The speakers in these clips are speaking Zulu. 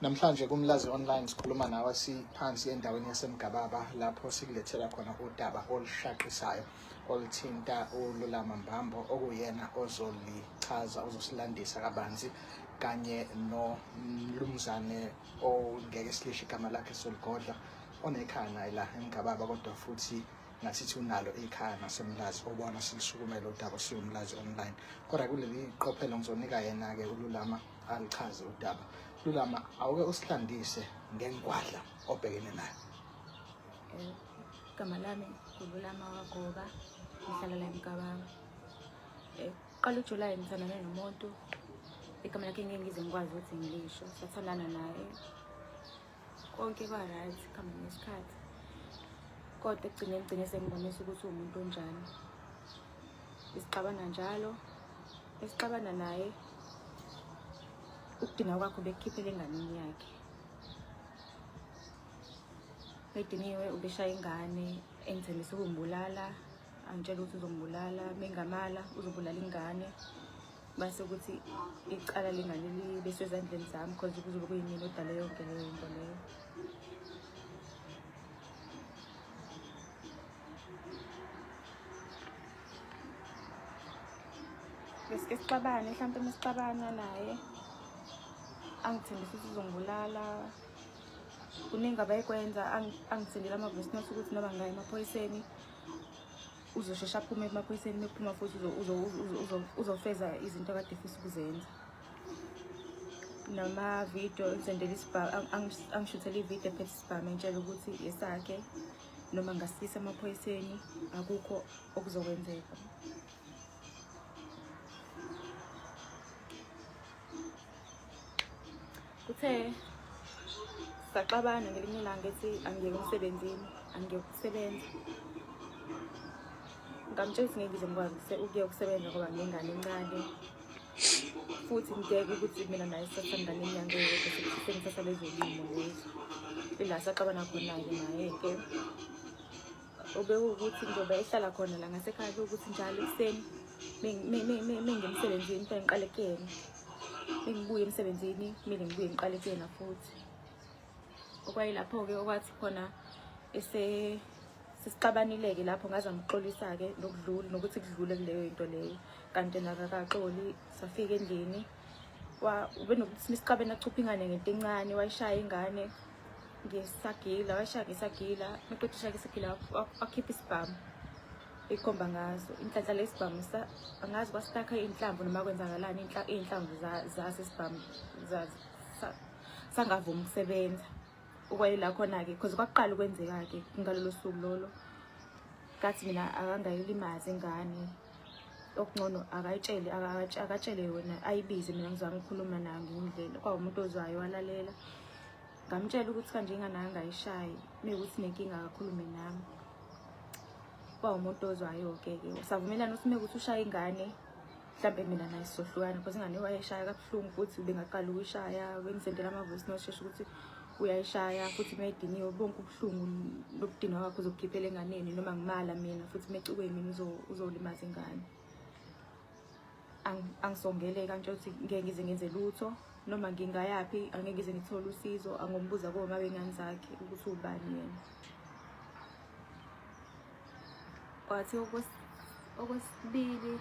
Namhlanje kumlazi online sikhuluma nawe siphansi endaweni yasemgababa lapho sikulethela khona udaba olushaqisayo oluthinta ululama mbambo okuyena ozolichaza ozosilandisa kabanzi kanye nomlumzane ongeke silisho igama lakhe soligodla onekhaya naye la emgababa kodwa futhi ngasithi unalo ikhaya nasemlazi obona silisukumele udaba siwumlazi online kodwa kuleli qophelo ngizonika yena-ke ululama alichaze udaba lulama awuke usihlandise ngengwadla obhekene nayo igama lami ngululama wagoba ngihlala la emgabanga eh, qala ujulayi ngithandane nomuntu igama lakhe ngeke ngize ngikwazi ukuthi ngilisho sathandana naye konke kwa-right kuhamba ngesikhathi kodwa ekugcine kugcine sengibonisa ukuthi uwumuntu onjani isixabana njalo esixabana naye ukudinga kwakho bekukhiphela enganeni yakhe bediniwe ubeshaya ingane engithembisa ukumbulala angitshela ukuthi uzombulala mengamala uzobulala ingane mase ukuthi icala lingaleli besezandleni zami cause kuzobe kuyimina odale yonke leyo nto leyo besike sixabane mhlawumpe uma sixabana naye angithembisa ukuthi uzongibulala kuningi abayikwenza angithindela ama-voice note ukuthi noma ngaye emaphoyiseni uzosheshe aphume emaphoyiseni mephuma futhi uzofeza izinto akade fisa ukuzenza namavidiyo engisendela isibhamu angishuthela ividiyo ephethe isibhamu entshela ukuthi yesakhe noma ngasisa emaphoyiseni akukho okuzokwenzeka kuthe saxabana ngelinye ilanga ethi angiyeke emsebenzini angiyeke ukusebenza ngamtshela ukuthi ngeke ngize ngikwazi ukuye ukusebenza ngoba ngengane encane futhi ngibheke ukuthi mina naye sisathandana inyanga eyodwa sengisasabezolimo lezi ila saxabana khona-ke naye-ke obekuwukuthi njengoba ehlala khona la ngasekhaya bekuwukuthi njalo ekuseni mengemsebenzini kufanele ngiqale kuyena mengibuye emsebenzini kumele ngibuye ngiqale kuyena futhi okwayilapho-ke okwathi khona sesixabanile-ke lapho ngaze ngixolisa-ke nokudlula nokuthi kudlule kuleyo into leyo kanti nakakaxoli safika endlini ubenokuthi sixabene achupha ingane ngento encane wayishaya ingane ngisagila washaya ngisagila maqeda ushaya ngisagila wakhipha isibhamu ikhomba ngazo inhlanhla lesibhamu angazi kwasitaka inhlamvu noma kwenzakalani iy'nhlamvu zaso isibhamu sangavumi ukusebenza ukwayela khona-ke because kwakuqala ukwenzeka-ke ngalolo suku lolo kathi mina akangayilimazi ingane okungcono akayitshele akatshele yona ayibize mina ngizwa ngikhuluma nayo ngiyindlela kwawumuntu ozwayo walalela ngamtshela ukuthi kanje ingane angayishayi mekuthi nenkinga akakhulume nami kwawumuntu ozwayo-ke ke savumelana ukuthi mekuthi ushaya ingane mhlawumbe mina naye sizohlukana because ingane wayeshaya kabuhlungu futhi bengaqala ukuyishaya bengizendela amavoice noshesha ukuthi uyayishaya futhi mayidiniwe bonke ubuhlungu nokudinwa kwakho uzokukhiphela enganeni noma ngimala mina futhi mecukwe mina uzolimaza ingane angisongele kanti ukuthi ngeke ngize ngenze lutho noma ngingayaphi angeke ngize ngithole usizo angombuza koma bengane zakhe ukuthi ubani yena Wathi okwesibili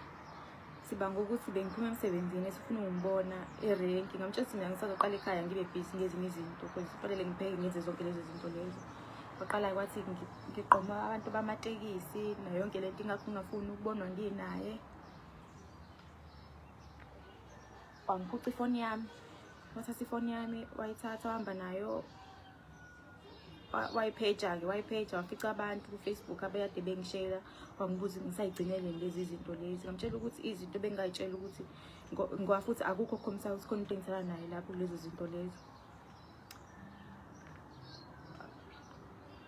sibanga ukuthi bengiphuma emsebenzini esifuna ungibona erenki ngamtshela ukuthi mina ngisaqala ekhaya ngibe busy ngezinye izinto because kufanele ngipheke ngenze zonke lezo zinto lezo waqala kwathi ngiqoma abantu bamatekisi nayo yonke le nto ingakho ngingafuni ukubonwa nginaye wangiphuca ifoni yami wathatha ifoni yami wayithatha wahamba nayo wayipheja-ke wayipheja wafica abantu kufacebook abeyade bengishela wangibuza ngisayigcinele lezi zinto lezi ngamtshela ukuthi izinto bengingayitshela ukuthi ngoba futhi akukho khomisa ukuthi khona into engisala naye lapho kulezo zinto lezo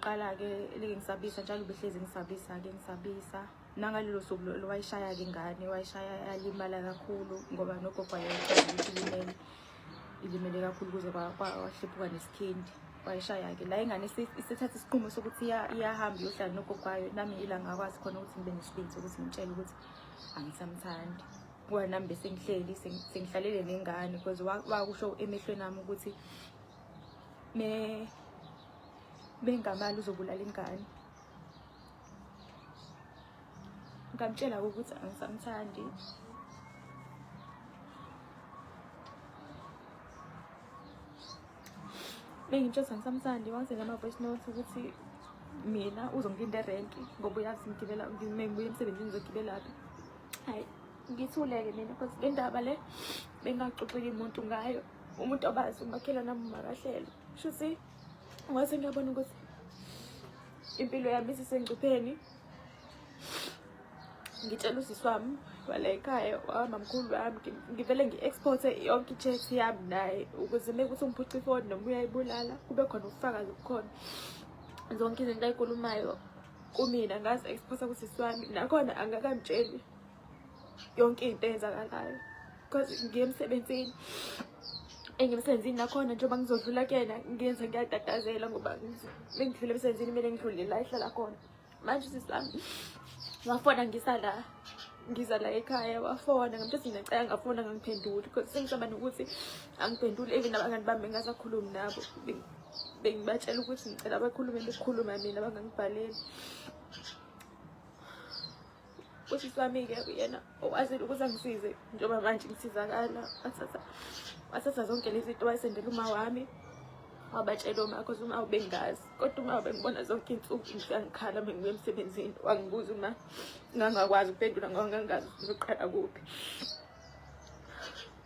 qala-ke leke ngisabisa njalo behlezi ngisabisa-ke ngisabisa nangalelo suku lowayishaya-ke ingane wayishaya yalimala kakhulu ngoba nogogo ayeyithaza ukuthi limele ilimele kakhulu kuze kwahluphuka nesikhendi wayishaya-ke la ingane isethatha isinqumo sokuthi iyahamba iyohlala nogogo kwayo nami ila ngakwazi khona ukuthi ngibe nesibindi sokuthi ngitshele ukuthi angisamthandi ngoba nami besengihleli sengihlalele nengane because wakusho emehlweni ami ukuthi me bengamali uzobulala ingane ngamtshela ukuthi angisamthandi bengitshela ukuthi angisamthandi wangizela ama-voice note ukuthi mina uzongilinda erenki ngoba uyazi ngigibela ngibuye emsebenzini ngizogibelaphi hayi ngithuleke mina because le ndaba le bengaxoxeli muntu ngayo umuntu obazi umakhelwana makahlelo shuthi Ngase ngiyabona ukuthi impilo yami isisengcupheni. Ngitshela usisi wami wala ekhaya wamamkhulu wami ngivele ngi-exporte yonke i-chat yami naye ukuze mekuthi ungiphuca ifoni noma uyayibulala kube khona ubufakazi bukhona zonke izinto ayikulumayo kumina ngazi exporta kusisi wami nakhona angakamtsheli yonke into eyenzakalayo because ngiye emsebenzini engimsebenzini nakhona njengoba ngizodlula kuyena ngenze ngiyatatazela ngoba bengidlula emsebenzini kumele ngidlule la ehlala khona manje sisami wafona ngisa la ngiza la ekhaya wafona ngamthathi ngacela ngafona ngangiphenduli because sengisaba nokuthi angiphenduli even abangani bami bengasakhulumi nabo bengibatshela ukuthi ngicela bakhulume bekhuluma mina bangangibhaleli usisi wami-ke uyena okwazile ukuthi angisize njengoba manje ngisizakala wathatha wathatha zonke lezi nto wayisendela uma wami wabatshela uma cause uma ubengazi kodwa uma ubengibona zonke iy'nsuku ngisangikhala uma ngibuya emsebenzini wangibuza uma ngangakwazi ukuphendula ngoba ngangazi ukuthi uqala kuphi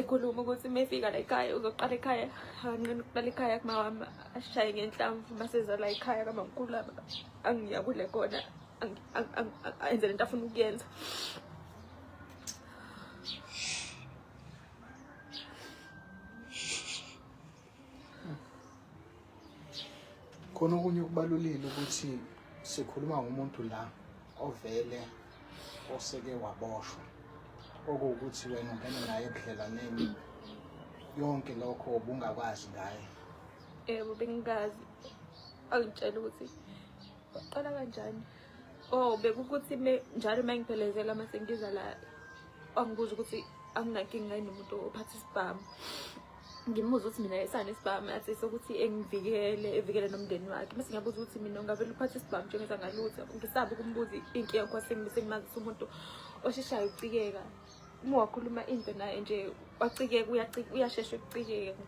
ekhuluma ukuthi uma efika la ekhaya uzoqala ekhaya anqena ukuqala ekhaya kumawami ashaye ngenhlamvu uma sezala ekhaya kamamkhulu laba angiya kule kona enze le nto afuna ukuyenza khona okunye okubalulile ukuthi sikhuluma ngomuntu la ovele oseke waboshwa okuwukuthi wena ungena naye ebudlelaneni yonke lokho ubungakwazi ngaye yebo bengingazi angitshela ukuthi waqala kanjani oh bekukuthi njalo uma ngiphelezela uma sengiza la angibuza ukuthi anginankinga yini umuntu ophatha isibhamu ngimubuza ukuthi mina isani isibhamu athi sokuthi engivikele evikele nomndeni wakhe bese ngiyabuza ukuthi mina ungavele uphathe isibhamu njengenza ngalutho ngisabe ukumbuza inkinga kwasimi bese ngimazisa umuntu osheshayo ukucikeka uma wakhuluma into naye nje wacikeka uyashesha ukucikeka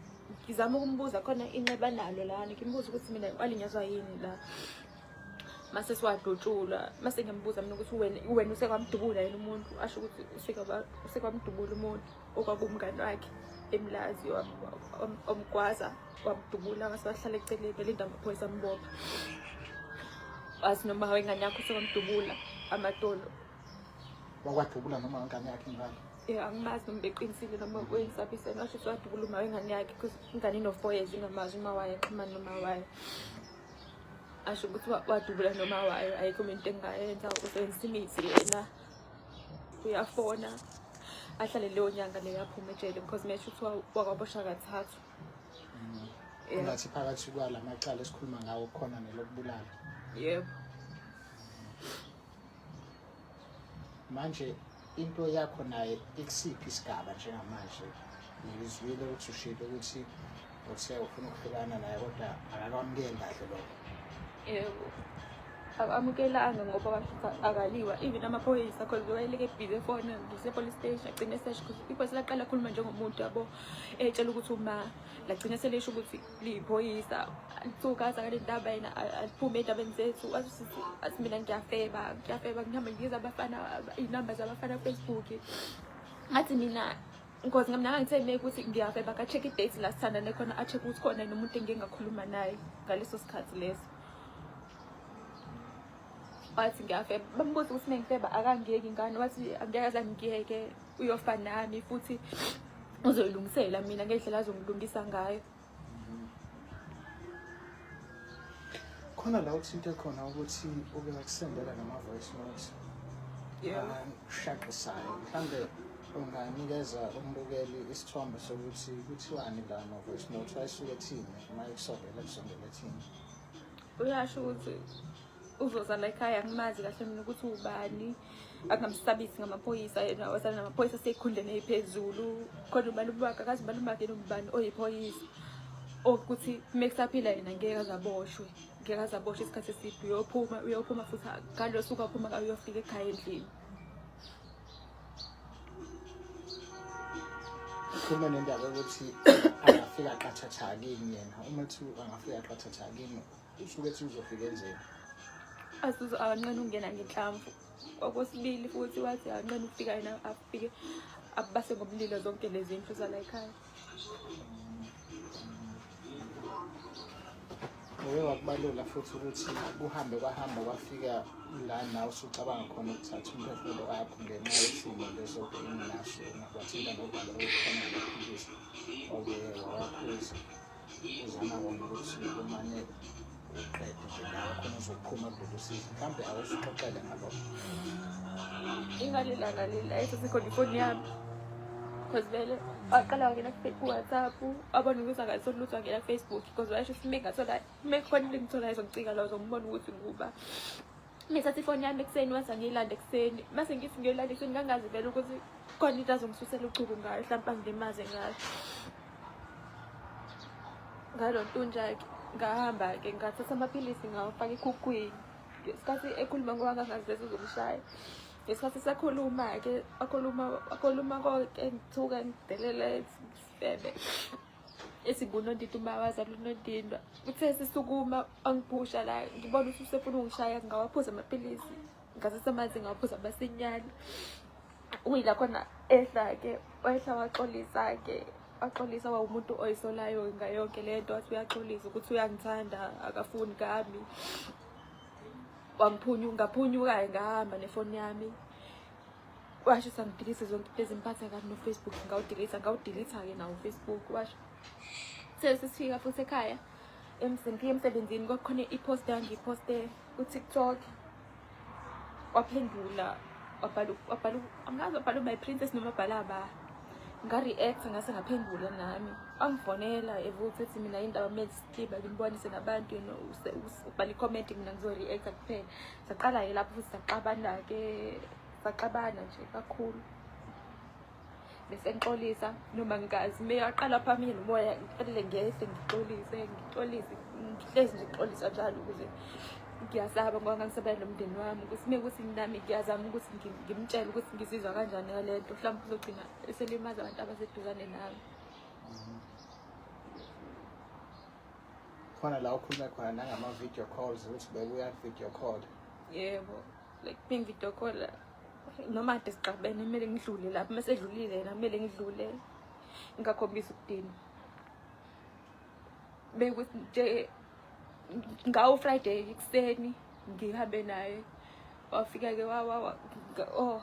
ngizama ukumbuza khona inxeba nalo lana ngimbuza ukuthi mina walinyazwa yini la mase siwadutshulwa mase ngiyambuza mina ukuthi wena wena usekwamdubula yini umuntu asho ukuthi usekwamdubula umuntu okwakumngani wakhe emlazi omgwaza wamdubula ngase wahlala eceleni elinda amaphoyisa ambopha wazi noma wengane yakho sekwamdubula amadolo wakwadubula noma wengane yakhe ingane um angimazi noma beqinisile noma kuyisabiseni washo sewadubula uma wengane yakhe bcause ingane ino-four years ingamazi uma wayo axhumani noma wayo asho ukuthi wadubula noma wayo ayikho into engayenza usebenzisa imithi yena uyafona ahlale leyo nyanga leyo aphuma ejele because mesho kuthiwa wakwabosha kathathu Yeah. Ngathi phakathi kwala macala esikhuluma ngawo khona nelokubulala. yebo Manje into yakho naye ikusiphi isigaba njengamanje? ngikuzwile ukuthi ushilo ukuthi uthe ufuna ukuhlukana naye kodwa akakwamukeli kahle lokho yebo akamukelanga ngoba akaliwa even amaphoyisa cause wayeleke busy efona ngisepolice station agcine sesh cause iphoyisa laqala akhuluma njengomuntu yabo etshela ukuthi uma lagcine selisho ukuthi liyiphoyisa lithukaza ngale ndaba yena aliphume ey'ndabeni zethu athi mina ngiyafeba ngiyafeba ngihamba ngibiza abafana iy'namba zabafana facebook ngathi mina Ngozi ngamnanga ngitshele ukuthi ngiyaveba ka-check i-date la sithandane khona a-check ukuthi khona yini umuntu engike ngakhuluma naye ngaleso sikhathi leso wathi ngiyafeba bambuza ukuthi mengifeba akangiyeki ngani wathi angeke aze angiyeke uyofa nami futhi uzoyilungisela mina ngendlela azongilungisa ngayo khona la uthinte khona ukuthi uke ngakusendela nama-voice note ashaqisayo mhlawumbe unganikeza umbukeli isithombe sokuthi kuthiwani la ma-voice note ayisuke thini uma ekusondela kusondela thini uyasho ukuthi uzoza la ekhaya angimazi kahle mina ukuthi ubani akungamsabisi ngamaphoyisa yena wasana namaphoyisa seyikhundleni eyiphezulu kodwa umalume wakhe akazi umalume wakhe yena ubani oyiphoyisa okuthi uma kusaphila yena ngeke azaboshwe ngeke azaboshwe isikhathi eside uyophuma uyophuma futhi ngalo suku aphuma uyofika ekhaya endlini ukhuluma nendaba yokuthi angafika qathatha kini yena uma kuthiwa angafika qathatha kini Usukethi uzofika enzeni? Azuze akanqeni ukungena ngenhlamvu. Okwesibili futhi wathi akanqeni ukufika yena afike abase ngomlilo zonke lezi ndlu zala ekhaya. Uye wakubalula futhi ukuthi kuhambe kwahamba kwafika la nawe usucabanga khona ukuthatha umphefumulo wakho ngenxa yesimo leso benginaso ungakwathinta nobhala okukhona lokuphikisa oke wawakhuza uzama kona ukuthi umane uqede nje nawe khona uzophuma kulolu sizi mhlawumbe awusixoxele ngalokho ingalilanga lila esasekhona ifoni yami because vele waqala wangena kuwhatsapp abona ukuthi akasoni lutho wangena kufacebook because wayesho sime ngasola mekhona into engitholayo zomcika lawo zombona ukuthi nguba ngithatha ifoni yami ekuseni wase ngiyilanda ekuseni mase ngithi ngiyolanda ekuseni ngangazi vele ukuthi khona into azongisusela uchuku ngayo hlampe angilimaze ngayo ngalo ntunja-ke ngahamba-ke ngathatha amaphilisi ngawafaka ekhukhwini ngesikhathi ekhuluma ngoba ngangazi vele uzomshaya ngesikhathi sakhuluma-ke akhuluma akhuluma konke ngithuka ngidelela sibebe esibunondindwa umawazi alunondindwa uthe sisukuma angiphusha la ngibona ukuthi usefuna ungishaya ngingawaphuza amaphilisi ngasese amanzi ngingawaphuza amasinyane uyila khona ehla-ke wehla waxolisa-ke axolisa wawumuntu oyisolayo ngayonke le nto wathi uyaxolisa ukuthi uyangithanda akafuni kami wangiphunyunga phunyuka-ke ngahamba nefoni yami washo sangidilise zonke iphezi ngiphatha kabi nofacebook ngawudilitha ngawudilitha-ke nawo ufacebook washo sesifika futhi ekhaya emsengifike emsebenzini kwakukhona i-post yangiyiposte kutiktok waphendula wabhala angazi wabhala umy princess noma abhala aba nga-react ngase ngaphendula nami angifonela evuthi ethi mina yindaba mele siba ngimbonise nabantu ubhala i-comment mina ngizo-reacta kuphela saqala ke lapho futhi saxabana ke saxabana nje kakhulu bese ngixolisa noma ngikazi meyaqala phambili nomoya ngiphelele ngiyese ngixolise ngixolise ngihlezi nje ngixolisa njalo ukuze ngiyasaba ngoba ngangisabela nomndeni wami ukuthi uma ukuthi nami ngiyazama ukuthi ngimtshele ukuthi ngizizwa kanjani ngale nto mhlawumbe uzogcina eselimaza abantu abaseduzane nami khona la ukhulume khona nangama-video calls ukuthi bekuya-video call yebo like bengi-video call noma kade siqabene kumele ngidlule lapho uma sedlulile yena kumele ngidlule ngingakhombisi ukudinwa bekuthi nje ngawo friday ekuseni ngihambe naye wafika-ke oh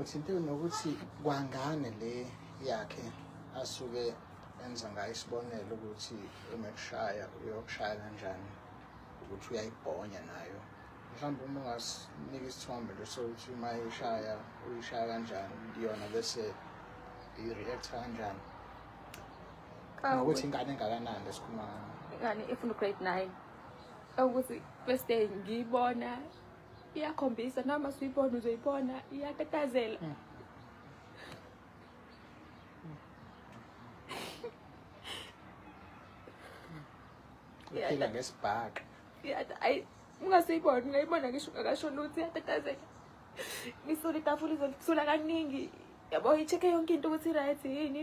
uthinte nokuthi kwangane le yakhe asuke enza ngayo isibonelo ukuthi uma ekushaya uyokushaya kanjani ukuthi uyayibhonya nayo mhlawumbe uma ungasinika isithombe nje sokuthi uma ishaya uyishaya kanjani yona bese i-react kanjani ngokuthi ingane engakanani lesikhuluma ingane efuna ugrade nine ukuthi first day ngiyibona iyakhombisa noma suyibona uzoyibona iyatatazela hmm. uphila ngesibhaqa ayi ungasiyibona ungayibona ngisho ungakasho lutho iyatatazela ngisole itafula izolisula kaningi yabo i-check-e yonke into ukuthi i-right yini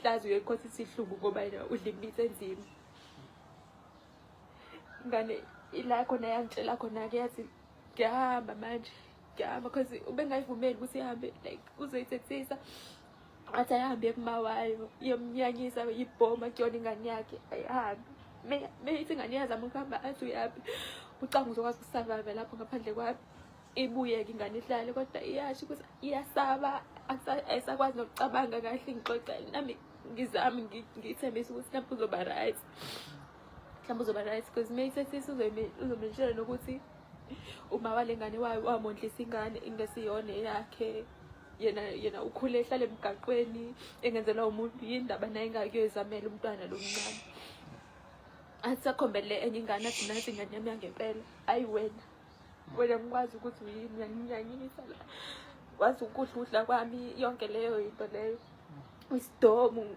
hlazi uyekhosa isihlungu ngoba yena udla imithi enzima ngane ila khona yangitshela khona-ke yathi ngiyahamba manje ngiyahamba cause ubengayivumeli ukuthi ihambe like uzoyithethisa athi ayihambe yekuma wayo iyomnyanyisa yibhoma kuyona ingane yakhe ayihambe meyithi ingane iyazama ukuhamba athi uyaphi ucanga uzokwazi ukusurvive lapho ngaphandle kwami ibuyeke ingane idlale kodwa iyasho ukuthi iyasaba ayisakwazi nokucabanga kahle ngixoxele nami ngizami ngithembisa ukuthi mhlawumbe uzoba right mhlawumbe uzoba right because uma ithethisa uzomintshela nokuthi uma wale ngane wamondlisa ingane ingesiyona eyakhe yena yena ukhule ehlala emgaqweni engenzelwa umuntu yindaba naye ingakuyoyizamela umntwana lo mncane athi sakhombele enye ingane athi nathi ingane yami yangempela ayi wena Wena ngikwazi ukuthi uyini uyanginyanyisa la. Ngikwazi ukudla ukudla kwami yonke leyo into leyo. Isidomu.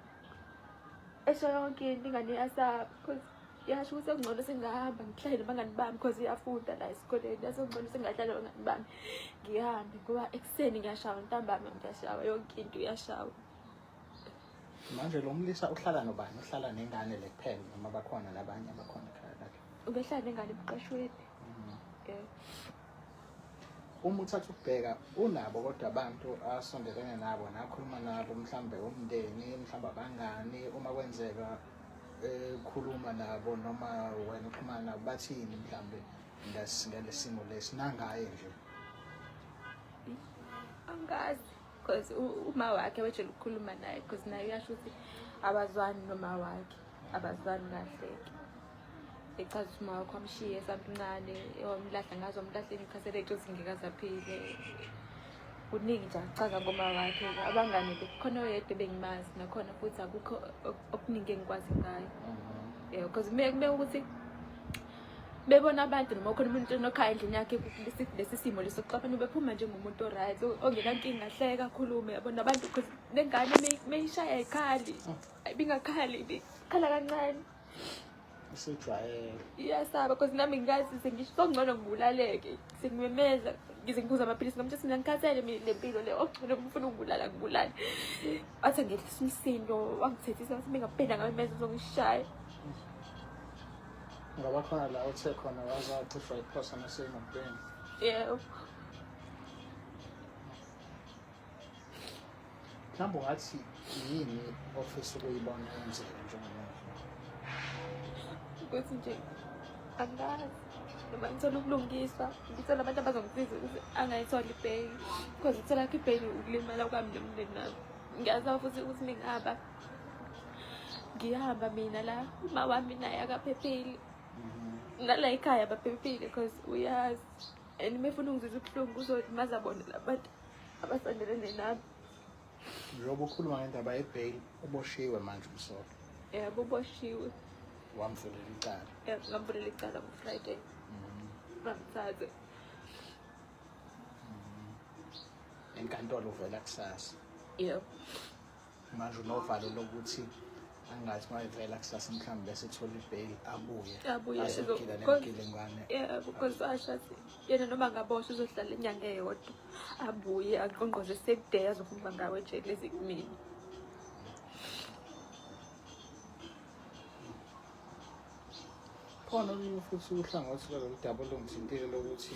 Esho yonke into ingane yasaba because yasho ukuthi sekungcono singahamba ngihlale nabangani bami because iyafunda la esikoleni yasengcono singahlale nabangani bami ngihambe ngoba ekuseni ngiyashawa ntambama ngiyashawa yonke into iyashawa manje lo mlisa uhlala nobani uhlala nengane le kuphela noma bakhona nabanye abakhona ekhaya lakhe ubehlala nengane emqashweni yeah uma uthatha ukubheka unabo kodwa abantu asondelene nabo nakhuluma nabo mhlawumbe umndeni mhlawumbe abangani uma kwenzeka ekhuluma nabo noma wena uxhumana nabo bathini mhlawumbe ngalesimo lesi nangaye nje angazi because uma wakhe wejele ukukhuluma naye because naye uyasho ukuthi abazwani noma wakhe abazwani kahleke echaza ukuthi uma wakho amshiye esamncane wamlahla ngazo wamlahla imkhasele ethi uzingekazaphile kuningi nje akuchaza ngoma wakhe abangane khona oyedwa ebengimazi nakhona futhi akukho okuningi engikwazi ngayo mhm. yeah because kumele ukuthi bebona abantu noma khona umuntu onokhayo endlini yakhe lesi simo leso kuxaphana bephuma njengomuntu oright ongenankinga hleka akhulume yabona abantu because nengane meyishaya ayikhali ibingakhali ibikhala kancane usejwayele iyasaba because nami ngikazi sengisho songcono ngibulaleke sengimemeza ngize ngiphuza amaphilisi ngamthi sina ngikhathele mina le mpilo le okugcine ngifuna ukubulala ngibulale wathi angehlisa umsindo wangithethisa wathi mina ngabheda ngabe meza uzongishaya Ngoba khona la uthe khona waze wacisha iphosa nasemotweni. Yebo. Mhlawumbe ungathi yini ofisa ukuyibona yenzeka njengamanje? Ukuthi nje angazi noma ngithola ubulungiswa ngithola abantu abazongisiza ukuthi angayitholi ibheki because ithola kho ibheki ukulimala kwami nomndeni nami ngiyazi futhi ukuthi ningaba ngihamba mina la uma wami naye akaphephile mhm. nala ekhaya baphephile because uyazi and mefuna ungizisa ubuhlungu kuzothi mazabona labantu abasondelene nami njengoba ukhuluma ngendaba yebail uboshiwe manje umsolwa yebo uboshiwe wamvulela icala ngamvulela icala ngofriday mhm. bamthathe mhm. enkantolo uvela kusasa yebo manje unovalo lokuthi angathi uma evela kusasa mhlawumbe bese ethola ibheyili abuye azophila nemgilingwane because asho athi yena noma ngaboshwa uzohlala inyanga eyodwa abuye aqonqoze sekuday azohamba ngawo ejele ezikumini khona olunye futhi uhlangothi lwalolu daba olungithintile lokuthi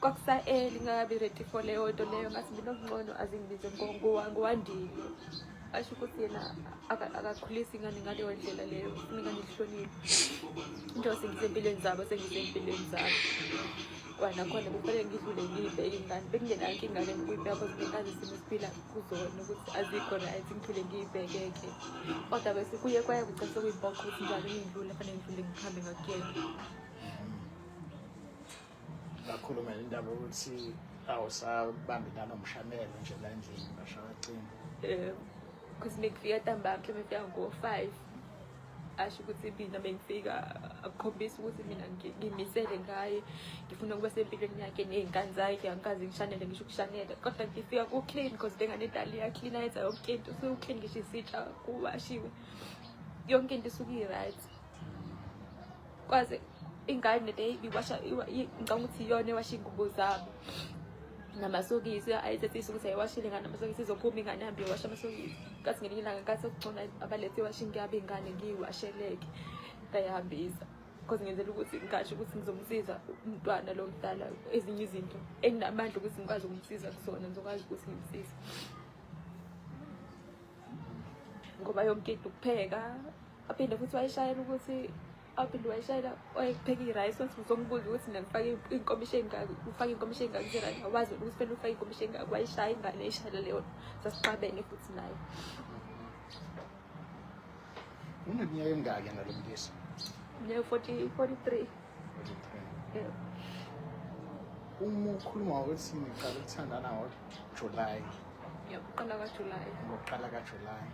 kwakusa-eli ngakabi ready for leyo nto leyo ngathi mina okungcono azingibize ngowandile asho ukuthi yena akakhulisi ingane ngaleyo ndlela leyo funa ingane ihlonile into sengisempilweni zabo sengisempilweni zabo kwanakhona kufanele ngidlule ngibe ingane bekungenanke ingane ngikuyibheka cause bengazi isimo esiphila kuzona ukuthi azikho right ngiphile ngiyibhekeke kodwa bese kuye kwaye kugcina sekuyibhoxa ukuthi njalo ngidlule fanele ngidlule ngihambe ngakuyena ngakhuluma indaba ukuthi awusabambi nanomshanelo nje la endlini bashawacimba um because mekufika ntambama mhlawumbe fika ngo-five asho ukuthi mina bengifika akukhombisa ukuthi mina ngimisele ngaye ngifuna ukuba sempilweni yakhe ney'ngane zakhe angikazi ngishanele ngisho ukushanela kodwa ngifika ku-clean because lengane idali iyaclean ayenza yonke into usuke uclean ngisho isitsha kuwashiwe yonke into isuke i-right kwaze ingane le ibiwasha ngicabanga ukuthi iyona ewasha iy'ngubo zabo namasokisi ayethethisa ukuthi ayiwashile ngane amasokisi izophuma ingane hambe iwasha amasokisi kathi ngelinye ilanga nkathi okugcona abalethe iwasha ingiyabe ingane ngiyiwasheleke ngayihambisa because ngenzela ukuthi ngasho ukuthi ngizomsiza umntwana lo mdala ezinye izinto enginamandla ukuthi ngikwazi ukumsiza kusona ngizokwazi ukuthi ngimsize ngoba yonke into ukupheka aphinde futhi wayishayela ukuthi aphinde wayishayela wayepheka i-rice wathi uzongibuza ukuthi mina ngifake inkomishi engaki ufake inkomishi engaki kuzerani awazi ukuthi fanele ufake inkomishi engaki wayishaya ingane eyishayela leyo sasixabene futhi naye uneminyaka emingaki yena lo mlisa minyaka forty forty three uma ukhuluma ukuthi niqala ukuthandana ngojulayi yaqala kajulayi ngokuqala kajulayi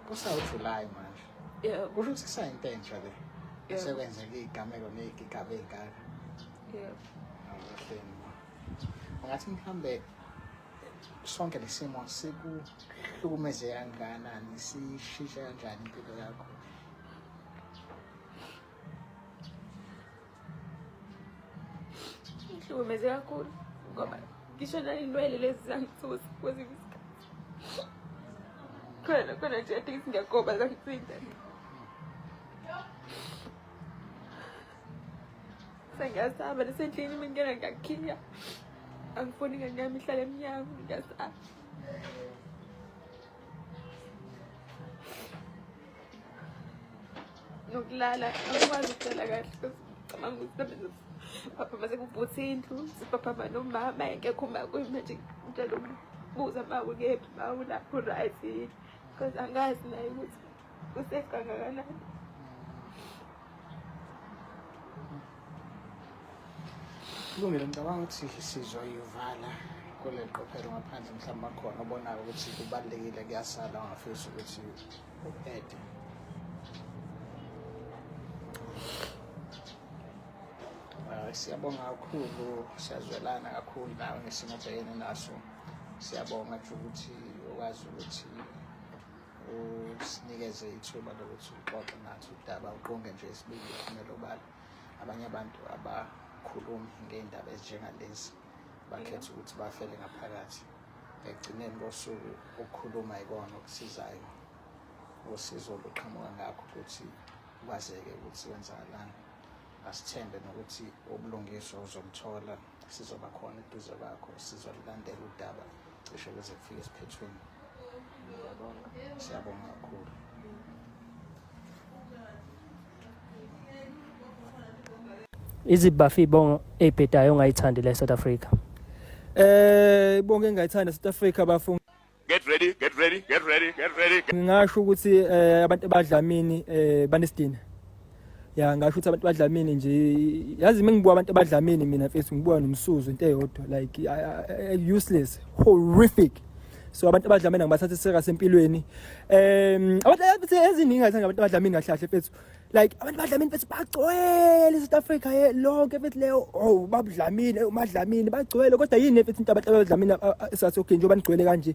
kusawujuly manje yeah. kusho ukuthi kusayinto entsha le yeah. sekwenzeka iy'gameko ney'gigaba ey'ngaka yeah. abahleni ungathi mhlawumbe sonke lesimo sikuhlukumeze kangakanani sishintshe kanjani impilo yakho ngihlukumeze kakhulu ngoba ngisho nayinwele lezi zangithusa kwezinye isikhathi khona khona nje athi ngiyagoba zangithinta sengiyasaba nasendlini mina ngena ngiyakhiya angifuni ingane yami ihlale emnyango ngiyasaba nokulala akwazi ukuhlala kahle cabanga ukuthi babenza papa mase kubhuthe indlu sipapa mani umama engekho uma kuyimanje ngitshela ukubuza ma ukephi ma ulapho right yini because angazi naye ukuthi usafe kangakanani kulungile ngicabanga ukuthi sizwa yuvala kule qophelo ngaphandle mhlawumbe akhona obonayo ukuthi kubalulekile kuyasala ungafisa ukuthi siyabonga kakhulu siyazwelana kakhulu nawe ngesimo obhekene naso siyabonga nje ukuthi ukwazi ukuthi usinikeze ithuba lokuthi uxoxe nathi udaba uqonge nje isibili uphumele obala abanye abantu abakhulumi ngey'ndaba ezinjengalezi bakhetha ukuthi bafele ngaphakathi ekugcineni kosuku ukukhuluma ikona okusizayo usizo oluqhamuka ngakho ukuthi kwazeke ukuthi kwenzakalani asithembe nokuthi ubulungiswa uzoluthola sizoba khona eduze kwakho sizolulandela udaba cishe kuze kufike esiphethweni siyabonga kakhulu iziphi bafi ibongo ebhedayo ongayithandi la e-south africa eh ibongo engayithanda e-south africa bafunga get ready get ready get ready get ready ngingasho ukuthi eh, abantu abadlamini eh, banesidina ya ngasho ukuthi abantu badlamini nje yazi mina ngibuka abantu abadlamini mina mfethu ngibuka nomsuzo into eyodwa like useless horrific so abantu abadlamini ngibathatha serious empilweni um abantu eziningi ngathi abantu abadlamini kahle kahle mfethu like abantu badlamini bethi bagcwele eSouth Africa ye lonke bethi leyo oh babudlamini umadlamini bagcwele kodwa yini bethi into abantu abadlamini esathi okay njengoba nigcwele kanje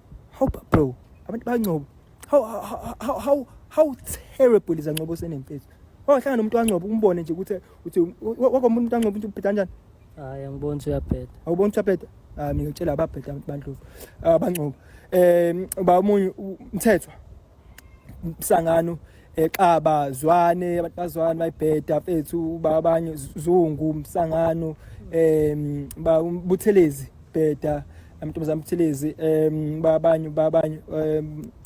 How bro, abantu bangcobo. How how how how, how terrible is angcobo senemfethu. Wahlangana nomuntu wangcobo umbone nje ukuthi uthi wakomuntu wangcobo uthi ubheda kanjani? Hayi angiboni ukuthi uyabheda. Awuboni ukuthi uyabheda? Ah mina ngitshela ababheda abantu bandlovu. Abangcobo. Ah, eh ba omunye umthethwa msangano exaba eh, zwane abantu bazwane bayibheda mfethu babanye zungu msangano em ba buthelezi bheda amantombazana buthelezi em babanye babanye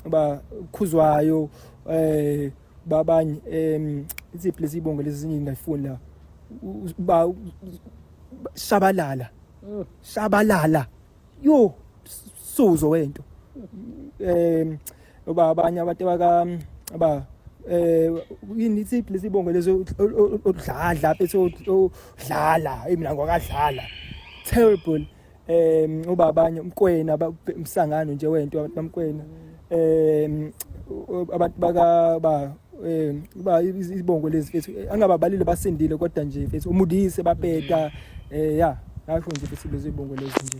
ba khuzwayo eh babanye em iziphi lezi bongo lezi ngingayifuni la ba shabalala mm. shabalala yo suzo wento em oba abanye abantu abaka aba eh yini ithi please ibongo lezo odlala bese odlala mina ngwakadlala terrible em uba abanye umkwena umsangano nje wento abantu bamkwena em abantu baka ba eh uba izibongo lezi fethu angababalile basindile kodwa nje fethu umudise bapeta eh ya ngasho nje fethu lezi ibongo lezi nje